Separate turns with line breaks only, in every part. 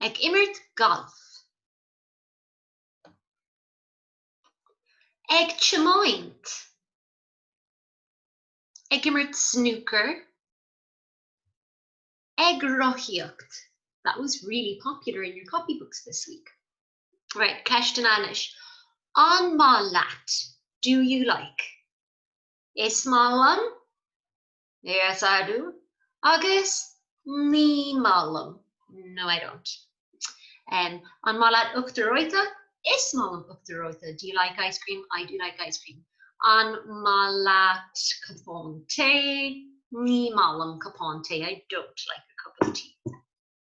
Ag imirt gailf. Ag tiomáint. Ag imirt snúcair. Ag rothaíocht. That was really popular in your copybooks this week. Right, ceisteanna anois. An maith leat? Do you like? Is maith liom. Yes I do agus ní maith liom, no I don't. An maith leat uachtar reoite? Is maith liom uachtar reoite. Do you like ice cream? I do like ice cream. An maith leat cupán tae? Ní maith liom cupán tae I don't like a cup of tea.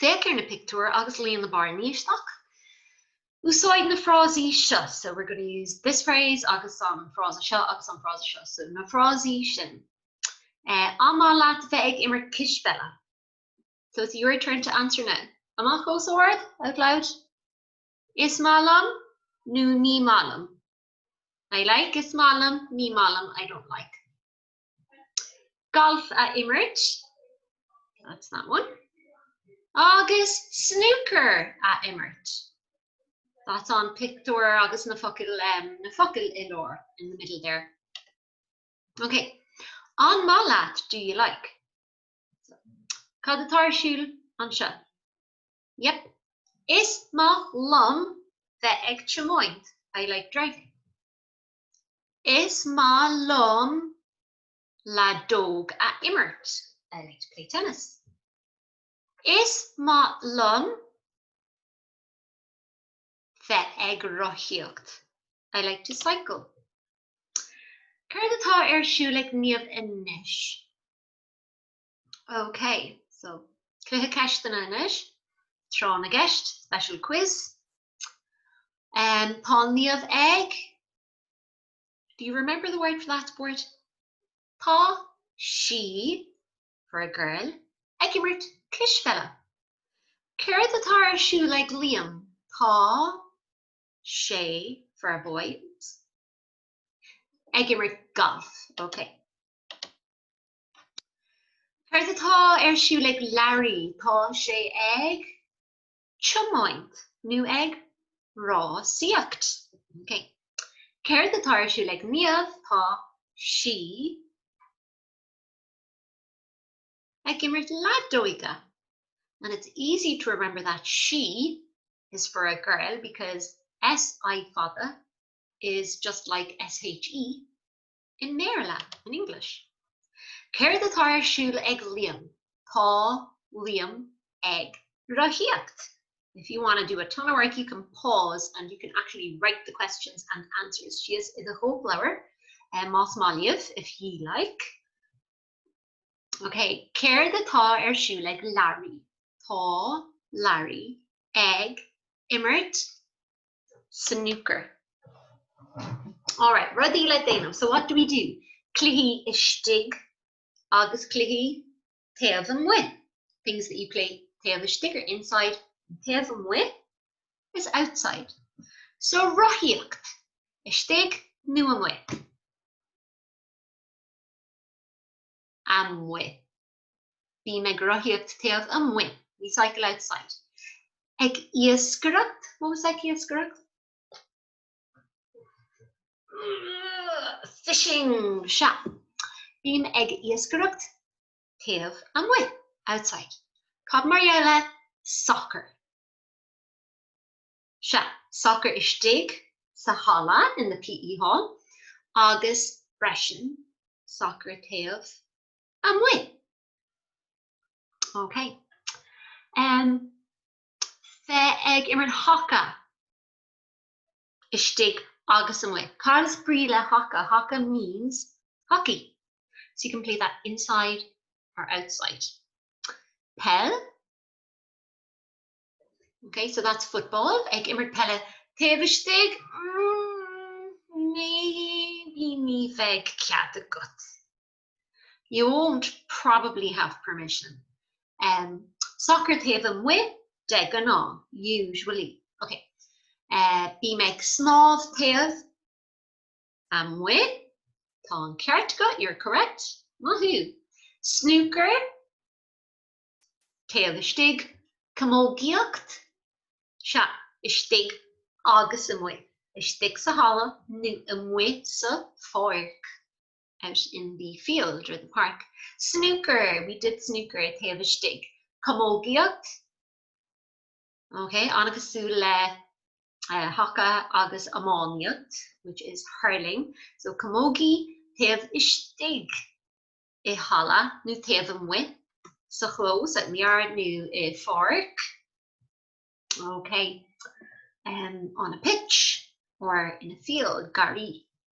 Féach ar na pictiúir agus líon na bearnaí isteach. Úsáid na frásaí seo, so we're going to use this phrase agus an frása seo agus an frása seo, so na frásaí sin. An maith leat bheith ag imirt cispheile? So it's your turn to answer now. Amach os ard, out loud. Is maith liom nó ní maith liom, I like, is maith liom, ní maith liom, I don't like. golf a imirt, that's that one, agus snúcar a imirt, that's an pictiúr agus na focail, em, na focail i lár, in the middle there. Ok, an maith leat, do you like? Cad atá ar siúl anseo? Yep, is maith liom bheith ag tiomáint, I like driving. Is maith liom leadóg a imirt. I like to play tennis. Is maith liom bheith ag rothaíocht. I like to cycle. Céard atá ar siúl ag Niamh anois? Ok so cluiche ceisteanna anois, tráth na gceist, special quiz. Tá Niamh ag, do you remember the word for that sport? Tá sí, for a girl, ag imirt cispheile. Céard atá ar siúl ag Liam? Tá sé, for a boy, ag imirt golf. Ok. Céard atá ar siúl ag Larry? Tá sé ag tiomáint nó ag rásaíocht. Okay. Céard atá ar siúl ag Niamh? Tá sí ag imirt leadóige. And it's easy to remember that sí is for a girl because SI fada is just like SHE. in mBéarla, in English. Céard atá ar siúl ag Liam? Tá Liam ag. rothaíocht. If you wanna do a ton of work you can pause and you can actually write the questions and answers síos i do chóipleabhar más maith libh, if ye like. Ok, Céard atá ar siúl ag Larry? Tá Larry ag imirt. snooker. Alright, rudaí le déanamh, so what do we do? Cluichí istigh agus cluichí taobh amuigh, things that you play taobh istigh are inside and taobh amuigh is outside. So rothaíocht, istigh nó amuigh? amuigh. Bím ag rothaíocht taobh amuigh, we cycle outside. Ag iascaireacht, what was ag iascaireacht? Fishing, sea. Bím ag iascaireacht taobh amuigh, outside. Cad mar gheall le sacar? Sea, sacar istigh sa halla, in the PE hall, agus freisin sacar taobh amuigh. OK. Um. Sea, ag imirt haca istigh agus amuigh. Cad is brí le haca? Haca means hockey. So you can play that inside or outside. Peil. OK, so that's football. Ag imirt peile taobh istigh. Mm, maybe ní bheidh cead agat. You won't probably have permission um Sacar taobh amuigh, de ghnáth, usually, ok eh Bím ag snámh taobh amuigh, tá an ceart agat, you're correct, maith thú Snúcar, taobh istigh, camógaíocht, sea, istigh agus amuigh, istigh sa halla nó amuigh sa pháirc. out in the field or the park. Snúcar, we did snúcar, taobh istigh. Camógaíocht, ok, an-chosúil le haca agus iománaíocht, which is hurling. So camógaí taobh istigh i halla nó taobh amuigh sa chlós, out in the yard nó i bpáirc. Ok, um on a pitch or in a field, garraí.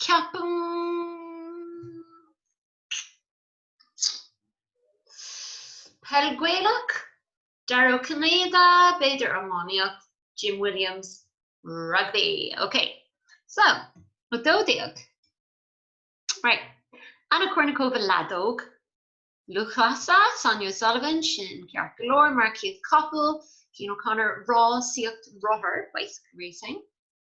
Ceapaim. Peil Gaelach, Dara Ó Cinnéide, b'fhéidir, iománaíocht, Jim Williams, rugbaí. OK. So, dó dhéag. Right. Anna Kournikova, leadóg, lúthchleasa, Sonia O'Sullivan, sin ceart go leor, marcaíocht capall, Cian O'Connor, rásaíocht rothar, bicycle racing.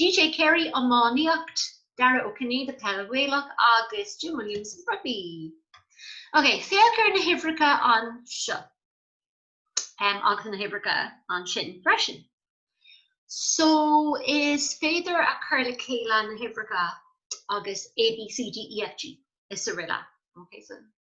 DJ Carey, iománaíocht, Darragh Ó Cinnéide, peil, Gaelach, agus Jim Williams, rugbaí. Ok, féach ar na huimhreacha anseo agus na huimhreacha ansin freisin. So, is féidir a chur le chéile na huimhreacha agus A, B, C, D, E, F, G, is araile. Ok, so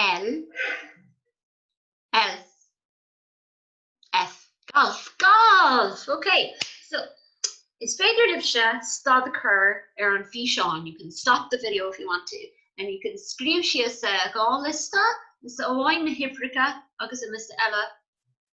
L, ls, F. Galf! Galf! Ok, so is féidir libhse stad a chur ar an bhfíseán, you can stop the video if you want to, and you can scríobh síos dhá liosta, liosta amháin na huimhreacha agus an liosta eile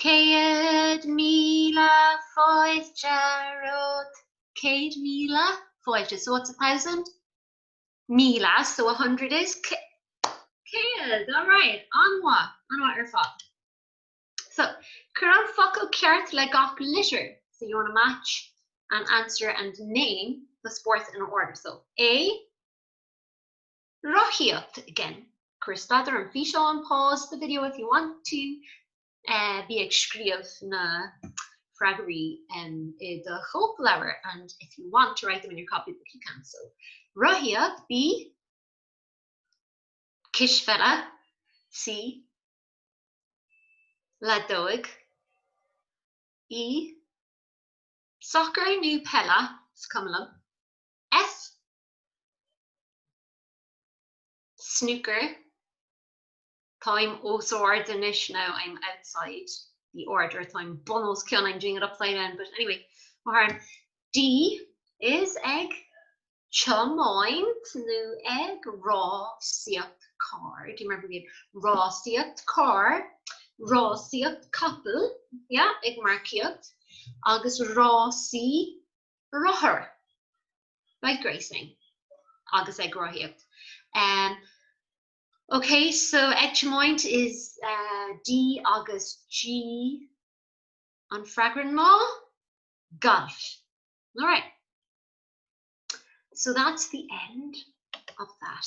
Céad míle fáilte romhat. Céad míle fáilte. So what's a thousand? Míle, so a hundred is? Céad, all right. An-mhaith, an-mhaith ar fad. So, cuir an focal ceart le gach litir. So you want to match an answer and name the sports in order. So A, rothaíocht again. Cuir stad ar an bhfíseán, pause the video if you want to, Bí ag scríobh na freagraí i do chóipleabhar and if you want to write them in your copybook you can. So, rothaíocht B cispheile C leadóg B sacar nó peil, is cuma liom, F Snooker, Táim as ord anois now I'm outside the order Is táim bun os cionn I'm doing it upside down but anyway má tharlaíonn. D Is ag tiomáint nó ag rásaíocht car, do you remember being rásaíocht car, rásaíocht capall, yeah, ag marcaíocht, agus rásaí rothair, bike racing, agus ag rothaíocht. Um, ok, so ag tiomáint is uh, D agus G an freagra ná galf. All right. So that's the end of that.